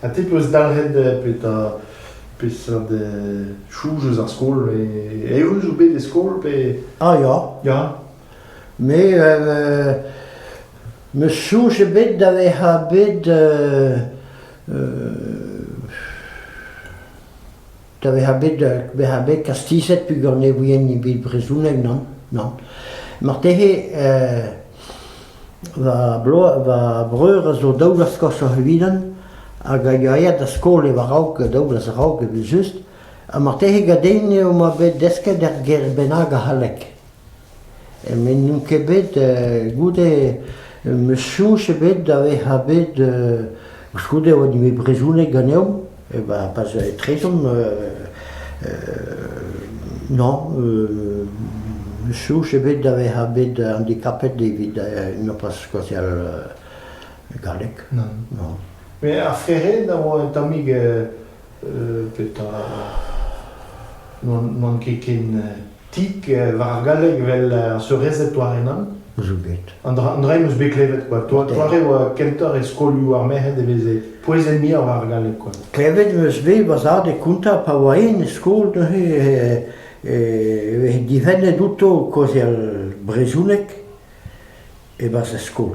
Ha te 'peus dalc'het petra peseurt chouz eus ar skol eeun zo bet e skol pe ah ya ya me euh, m'eus soñj ebet da vezañ bet euh, da vezañ bet da vezañ bet kastizet peogwir ne ouie ni bet brezhoneg nann nann. Marteze va bloaz va breur a zo daou vloaz koshoc'h evidon hag a ya da skol e-raok daou vloaz a-raok evel-just ha marteze gaden eo 'ma bet desket er gêr bennak a c'halleg. met n'on ket bet goude n'eus soñj ebet da vezañ bet koulskoude e oa din bet brezhoneg ganeomp eh ben pas etrezomp non n'eus soñj ebet da vezañ bet handikapet evit nopas skoazial galleg non. Met ar Ferenc a oa un tammig petra n'oan ket ken Tik war ar galleg 'vel ar seurezed Toare-Nan. Zo bet. An dra, an dra em eus bet klevet kwa. Toa- Toare oa kentoc'h e skolioù ar merc'hed e veze pouezenn muioc'h war ar galleg kwa. Klevet 'meus bet va zad e kontañ pa oa en e skol neuze e- e veze difennet outo kaozeal brezhoneg e-barzh ar skol.